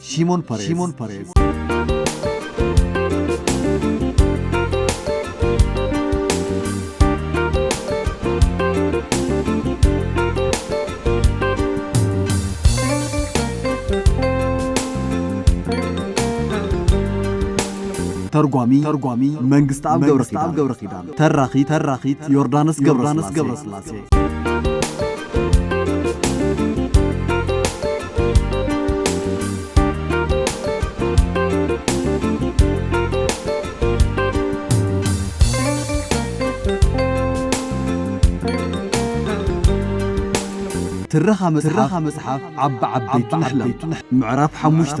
Shimon Peres. Shimon Peres. ተርጓሚ ተርጓሚ መንግስቲ ኣብ ገብረ ኪዳን ተራኺ ተራኺት ዮርዳኖስ ገብረ ስላሴ ትረኻ መጽሓፍ ዓቢ ዓበይቲ ንሕለም ምዕራፍ ሓሙሽተ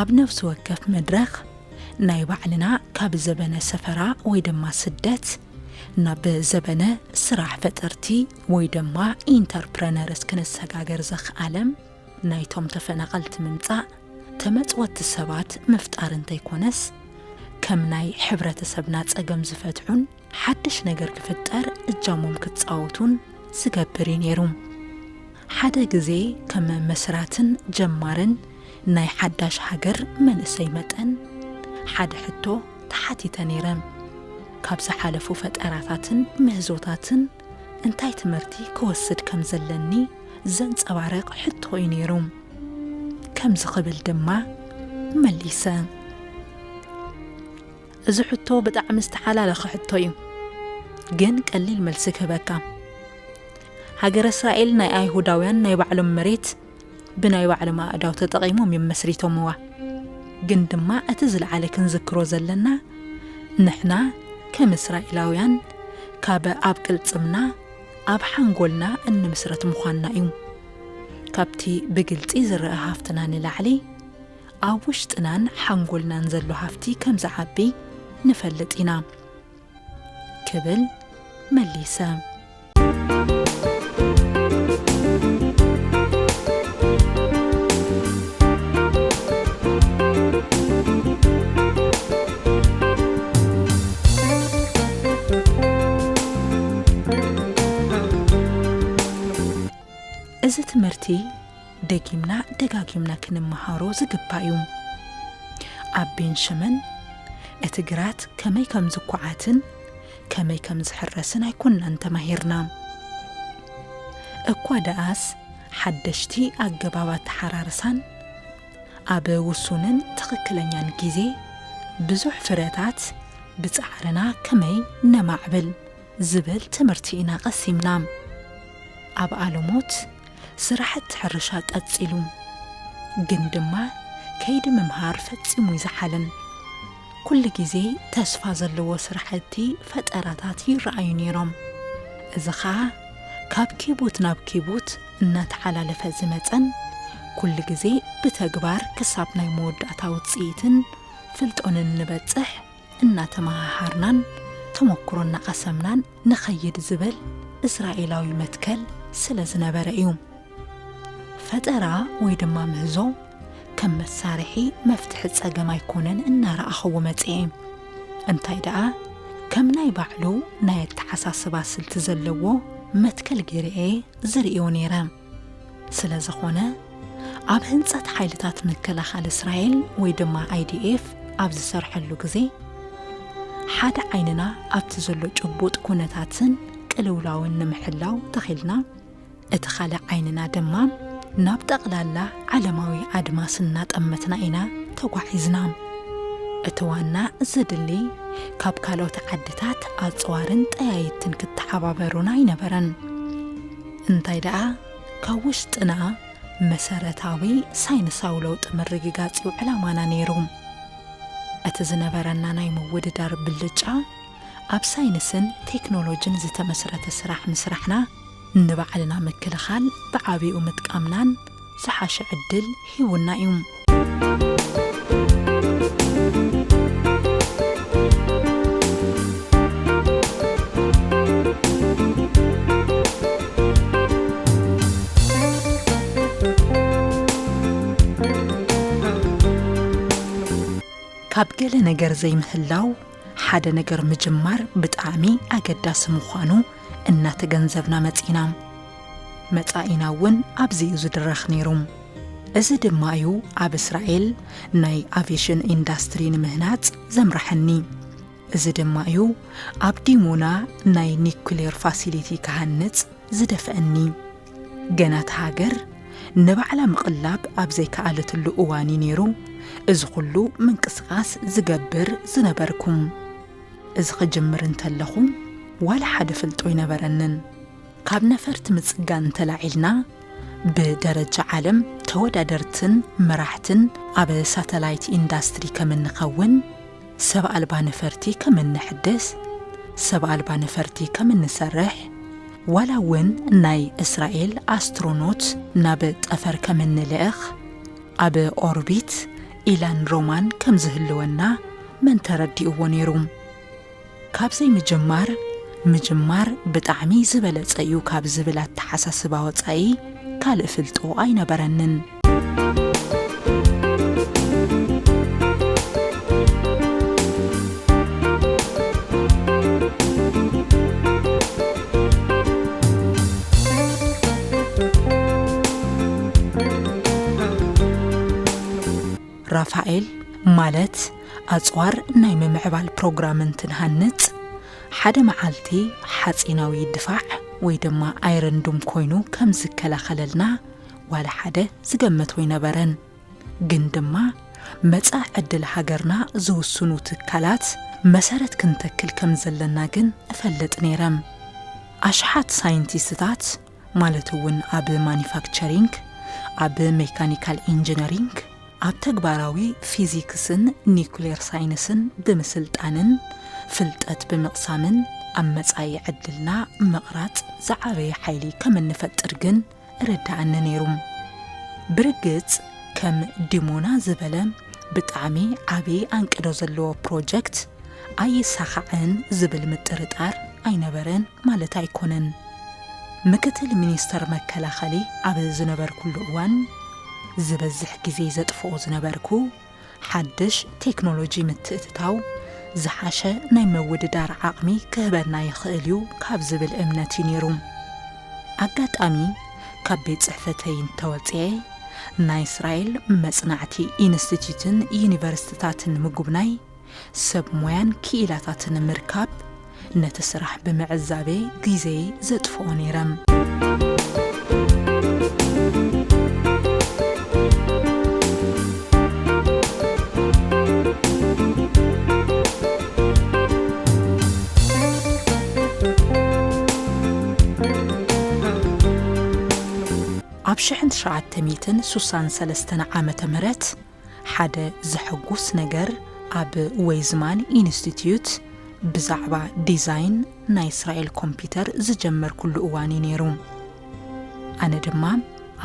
ኣብ ነፍሲ ወከፍ መድረኽ ናይ ባዕልና ካብ ዘበነ ሰፈራ ወይ ድማ ስደት ናብ ዘበነ ስራሕ ፈጠርቲ ወይ ድማ ኢንተርፕረነርስ ክንሰጋገር ዘኽኣለም ናይቶም ተፈናቐልቲ ምምጻእ ተመጽወቲ ሰባት ምፍጣር እንተይኮነስ ከም ናይ ሕብረተሰብና ጸገም ዝፈትሑን ሓድሽ ነገር ክፍጠር እጃሞም ክጻወቱን ዝገብር እዩ ነይሩ። ሓደ ግዜ ከም መስራትን ጀማርን ናይ ሓዳሽ ሃገር መንእሰይ መጠን ሓደ ሕቶ ተሓቲተ ነይረ። ካብ ዝሓለፉ ፈጠራታትን ምህዞታትን እንታይ ትምህርቲ ክወስድ ከም ዘለኒ ዘንጸባርቕ ሕቶ እዩ ነይሩ። ከምዚ ክብል ድማ መሊሰ። እዚ ሕቶ ብጣዕሚ ዝተሓላለኸ ሕቶ እዩ ግን ቀሊል መልሲ ክህበካ ሃገረ እስራኤል ናይ ኣይሁዳውያን ናይ ባዕሎም መሬት ብናይ ባዕሎም ኣእዳው ተጠቒሞም እዮም መስሪቶምዋ ግን ድማ እቲ ዝለዓለ ክንዝክሮ ዘለና ንሕና ከም እስራኤላውያን ካብ ኣብ ቅልጽምና ኣብ ሓንጎልና እንምስረት ምዃንና እዩ ካብቲ ብግልጺ ዝረአ ሃፍትና ንላዕሊ ኣብ ውሽጥናን ሓንጎልናን ዘሎ ሃፍቲ ከም ዝዓቢ ንፈልጥ ኢና ክብል መሊሰ። እዚ ትምህርቲ ደጊምና ደጋጊምና ክንመሃሮ ዝግባእ እዩ። ኣብ ቤን ሸመን እቲ ግራት ከመይ ከም ዝኳዓትን ከመይ ከም ዝሕረስን ኣይኮናን ተማሂርና። እኳ ደኣስ ሓደሽቲ ኣገባብ ኣተሓራርሳን ኣብ ውሱንን ትኽክለኛን ግዜ ብዙሕ ፍረታት ብጻዕርና ከመይ ነማዕብል ዝብል ትምህርቲ ኢና ቀሲምና። ኣብ ኣለሞት ስራሕቲ ሕርሻ ቀጺሉ ግን ድማ ከይዲ ምምሃር ፈጺሙ ይዝሓልን ኩሉ ግዜ ተስፋ ዘለዎ ስራሕቲ ፈጠራታት ይረኣዩ ነይሮም። እዚ ኸኣ ካብ ኪቡት ናብ ኪቡት እናተሓላለፈ ዝመጸን ኩሉ ግዜ ብተግባር ክሳብ ናይ መወዳእታ ውጽኢትን ፍልጦንን ንበጽሕ እናተመሃሃርናን ተመኩሮ እናቐሰምናን ንኸይድ ዝበል እስራኤላዊ መትከል ስለ ዝነበረ እዩ። ፈጠራ ወይ ድማ ምህዞ ከም መሳርሒ መፍትሒ ጸገም ኣይኮነን እናረኣኸዎ መጽኤ። እንታይ ደኣ ከም ናይ ባዕሉ ናይ ኣተሓሳስባ ስልቲ ዘለዎ መትከል ገይረ'የ ዝርእዮ ነይረ። ስለ ዝኾነ ኣብ ህንጸት ሓይልታት ምክልኻል እስራኤል ወይ ድማ IDF ኣብ ዝሰርሐሉ ግዜ ሓደ ዓይንና ኣብቲ ዘሎ ጭቡጥ ኩነታትን ቅልውላውን ንምሕላው ተኺልና እቲ ካልእ ዓይንና ድማ ናብ ጠቕላላ ዓለማዊ ኣድማስ እናጠመትና ኢና ተጓዒዝና። እቲ ዋና ዘድሊ ካብ ካልኦት ዓድታት ኣጽዋርን ጠያይትን ክተሓባበሩና ኣይነበረን። እንታይ ደኣ ካብ ውሽጥና መሰረታዊ ሳይንሳዊ ለውጢ ምርግጋጽ እዩ ዕላማና ነይሩ። እቲ ዝነበረና ናይ ምውድዳር ብልጫ ኣብ ሳይንስን ቴክኖሎጅን ዝተመስረተ ስራሕ ምስራሕና፣ ንባዕልና ምክልኻል ብዓቢኡ ምጥቃምናን፣ ዝሓሸ ዕድል ሂቡና እዩ። ካብ ገለ ነገር ዘይምህላው ሓደ ነገር ምጅማር ብጣዕሚ ኣገዳሲ ምዃኑ እናተገንዘብና መጺና መጻኢና እውን ኣብዚ እዩ ዝድረኽ ነይሩ። እዚ ድማ እዩ ኣብ እስራኤል ናይ ኣቬሽን ኢንዳስትሪ ንምህናጽ ዘምራሐኒ። እዚ ድማ እዩ ኣብ ዲሞና ናይ ኒኩሌር ፋሲሊቲ ክሃንጽ ዝደፍአኒ። ገና እታ ሃገር ንባዕላ ምቕላብ ኣብ ዘይከኣለትሉ እዋን እዩ ነይሩ እዚ ኹሉ ምንቅስቓስ ዝገብር ዝነበርኩ። እዚ ክጅምር እንተለኹ ዋላ ሓደ ፍልጦ ኣይነበረንን። ካብ ነፈርቲ ምጽጋን እንተላዒልና ብደረጃ ዓለም ተወዳደርትን መራሕትን ኣብ ሳተላይት ኢንዳስትሪ ከም እንኸውን፣ ሰብ ኣልባ ነፈርቲ ከም እነሕድስ፣ ሰብ ኣልባ ነፈርቲ ከም እንሰርሕ፣ ዋላ እውን ናይ እስራኤል ኣስትሮኖት ናብ ጠፈር ከም እንልእኽ፣ ኣብ ኦርቢት ኢላን ሮማን ከም ዝህልወና መን ተረዲእዎ ነይሩ? ካብዘይ ምጅማር ምጅማር ብጣዕሚ ዝበለጸ እዩ ካብ ዝብል ኣተሓሳስባ ወጻኢ ካልእ ፍልጦ ኣይነበረንን። ራፋኤል ማለት ኣጽዋር ናይ ምምዕባል ፕሮግራም እንትንሃንጽ፣ ሓደ መዓልቲ ሓጺናዊ ድፋዕ ወይ ድማ ኣይረን ዱም ኮይኑ ከም ዝከላኸለልና ዋላ ሓደ ዝገመት ወይነበረን። ግን ድማ መጻእ ዕድል ሃገርና ዝውስኑ ትካላት መሰረት ክንተክል ከም ዘለና ግን እፈልጥ ነይረም። ኣሽሓት ሳይንቲስትታት፣ ማለት እውን ኣብ ማኒፋክቸሪንግ፣ ኣብ ሜካኒካል ኢንጂነሪንግ፣ ኣብ ተግባራዊ ፊዚክስን ኒኩሌር ሳይንስን ብምስልጣንን ፍልጠት ብምቕሳምን ኣብ መጻኢ ዕድልና ምቕራጽ ዝዓበየ ሓይሊ ከም እንፈጥር ግን እረደኣኒ ነይሩ። ብርግጽ ከም ዲሞና ዝበለ፣ ብጣዕሚ ዓቢ ኣንቅዶ ዘለዎ ፕሮጀክት ኣይሳኻዕን ዝብል ምጥርጣር ኣይነበረን ማለት ኣይኮነን። ምክትል ሚኒስተር መከላኸሊ ኣብ ዝነበርኩሉ እዋን ዝበዝሕ ግዜ ዘጥፍኦ ዝነበርኩ ሓድሽ ቴክኖሎጂ ምትእትታው ዝሓሸ ናይ ምውድዳር ዓቕሚ ክህበና ይኽእል'ዩ ካብ ዝብል እምነት'ዩ ነይሩ። ኣጋጣሚ ካብ ቤት ጽሕፈተይ እንተወጽኤ ናይ እስራኤል መጽናዕቲ ኢንስቲትዩትን ዩኒቨርስትታትን ምጉብናይ ሰብ ሞያን ክኢላታትን ምርካብ ነቲ ስራሕ ብምዕዛቤ ግዜይ ዘጥፍኦ ነይረም ኣብ ሽሕን ትሽዓተ ሚእትን ሱሳን ሰለስተን ዓመተ ምህረት ሓደ ዘሐጉስ ነገር ኣብ ወይዝማን ኢንስቲትዩት ብዛዕባ ዲዛይን ናይ እስራኤል ኮምፒተር ዝጀመርኩሉ እዋን እዩ ነይሩ። ኣነ ድማ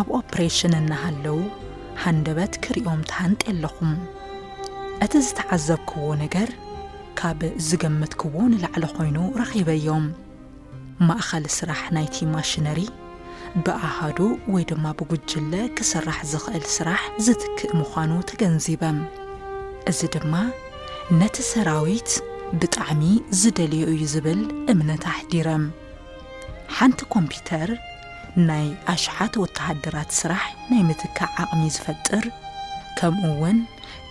ኣብ ኦፕሬሽን እናሃለው ሃንደበት ክርእዮም ተሃንጤ ኣለኹ። እቲ ዝተዓዘብክዎ ነገር ካብ ዝገመትክዎ ንላዕሊ ኮይኑ ረኺበዮ። ማእኸል ስራሕ ናይቲ ማሽነሪ ብኣሃዱ ወይ ድማ ብጉጅለ ክስራሕ ዝኽእል ስራሕ ዝትክእ ምዃኑ ተገንዚበም። እዚ ድማ ነቲ ሰራዊት ብጣዕሚ ዝደልዮ እዩ ዝብል እምነት ኣሕዲረም። ሓንቲ ኮምፒተር ናይ ኣሽሓት ወተሃደራት ስራሕ ናይ ምትካእ ዓቕሚ ዝፈጥር ከምኡ እውን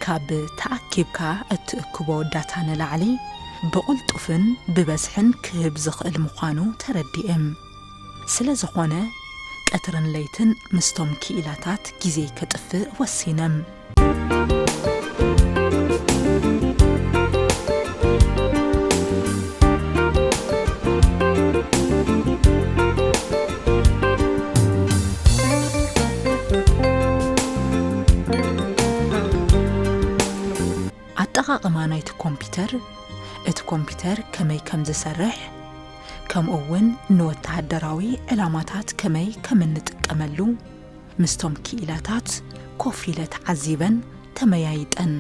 ካብ ተኣኪብካ እትእክቦ ዳታ ንላዕሊ ብቕልጡፍን ብበዝሕን ክህብ ዝኽእል ምዃኑ ተረዲእም። ስለዝኾነ ቀትርን ለይትን ምስቶም ክኢላታት ግዜይ ከጥፍእ ወሲነ። ኣጠቓቕማ ናይቲ ኮምፒተር፣ እቲ ኮምፒተር ከመይ ከምዝሰርሕ፣ ከምኡውን ንወተሃደራዊ ዕላማታት ከመይ ከም እንጥቀመሉ ምስቶም ክኢላታት ኮፍ ኢለ ተዓዚበን ተመያይጠን።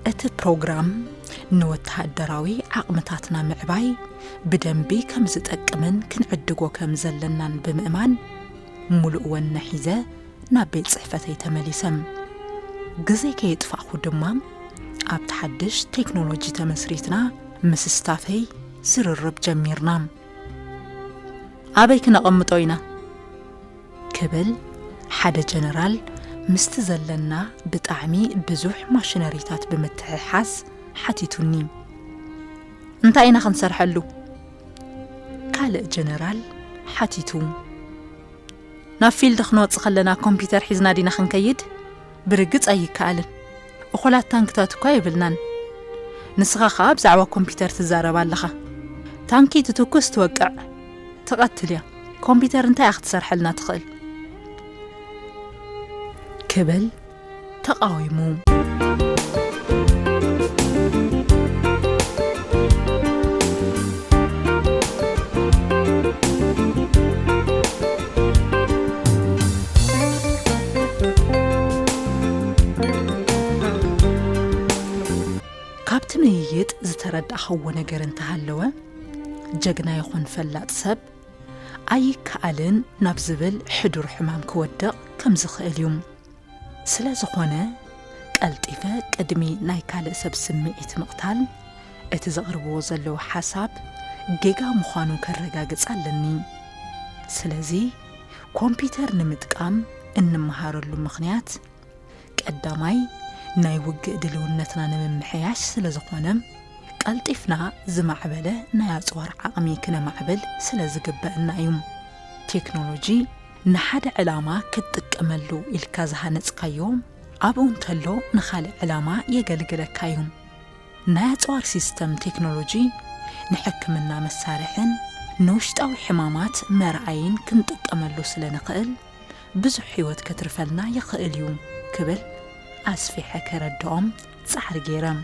እቲ ፕሮግራም ንወተሃደራዊ ዓቕምታትና ምዕባይ ብደንቢ ከም ዝጠቅምን ክንዕድጎ ከም ዘለናን ብምእማን ሙሉእ ወነ ሒዘ ናብ ቤት ጽሕፈተይ ተመሊሰም ግዜ ከየጥፋእኹ ድማ ኣብቲ ሓድሽ ቴክኖሎጂ ተመስሪትና ምስ ስታፈይ ዝርርብ ጀሚርና ኣበይ ክነቐምጦ ኢና ክብል ሓደ ጀነራል ምስቲ ዘለና ብጣዕሚ ብዙሕ ማሽነሪታት ብምትሕሓዝ ሓቲቱኒ እንታይ ኢና ክንሰርሐሉ ካልእ ጀነራል ሓቲቱ ናብ ፊልድ ክንወጽእ ከለና ኮምፒውተር ሒዝና ዲና ክንከይድ ብርግጽ ኣይከኣልን እኹላት ታንክታት እኳ የብልናን። ንስኻ ከኣ ብዛዕባ ኮምፒተር ትዛረብ ኣለኻ። ታንኪ ትትኩስ ትወቅዕ ትቐትል እያ። ኮምፒተር እንታይ እያ ክትሰርሐልና ትኽእል? ክብል ተቓዊሙ። ካብቲ ምይይጥ ዝተረዳእኻዎ ነገር እንተሃለወ ጀግና ይኹን ፈላጥ ሰብ ኣይከኣልን ናብ ዝብል ሕዱር ሕማም ክወድቕ ከም ዝኽእል እዩ። ስለ ዝኾነ ቀልጢፈ ቅድሚ ናይ ካልእ ሰብ ስምዒት ምቕታል፣ እቲ ዘቕርብዎ ዘለዉ ሓሳብ ጌጋ ምዃኑ ከረጋግጽ ኣለኒ። ስለዚ ኮምፒተር ንምጥቃም እንመሃረሉ ምኽንያት ቀዳማይ ናይ ውግእ ድልውነትና ንምምሕያሽ ስለ ዝኾነ፣ ቀልጢፍና ዝማዕበለ ናይ ኣጽዋር ዓቕሚ ክነማዕብል ስለ ዝግበእና እዩ። ቴክኖሎጂ ንሓደ ዕላማ ክትጥቀመሉ ኢልካ ዝሃነጽካዮ ኣብኡ እንተሎ ንኻልእ ዕላማ የገልግለካ እዩ። ናይ ኣጽዋር ሲስተም ቴክኖሎጂ ንሕክምና መሳርሕን ንውሽጣዊ ሕማማት መርኣይን ክንጥቀመሉ ስለ ንኽእል ብዙሕ ህይወት ከትርፈልና ይኽእል እዩ ክብል ኣስፊሐ ከረድኦም ፃዕሪ ገይረም።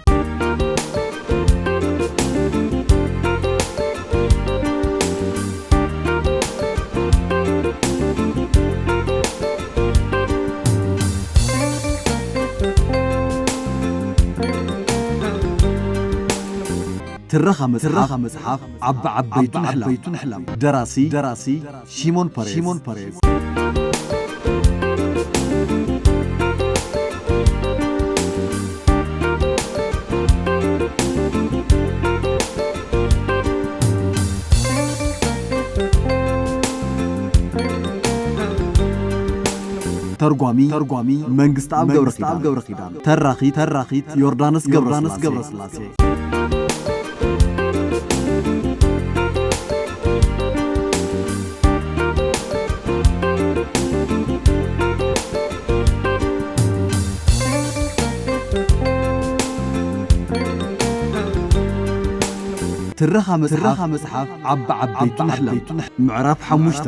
ትረኻ መጽሓፍ ዓቢ ዓበይቱን ኣሕላም ደራሲ Simon Perez. Simon Perez. ተርጓሚ ተርጓሚ መንግስቲ ኣብ ገብረ ኪዳን ተራኺ ተራኺት ዮርዳኖስ ገብረ ስላሴ ትረኻ መጽሓፍ ዓቢ ዓበይቲ ንሕለም ምዕራፍ ሓሙሽተ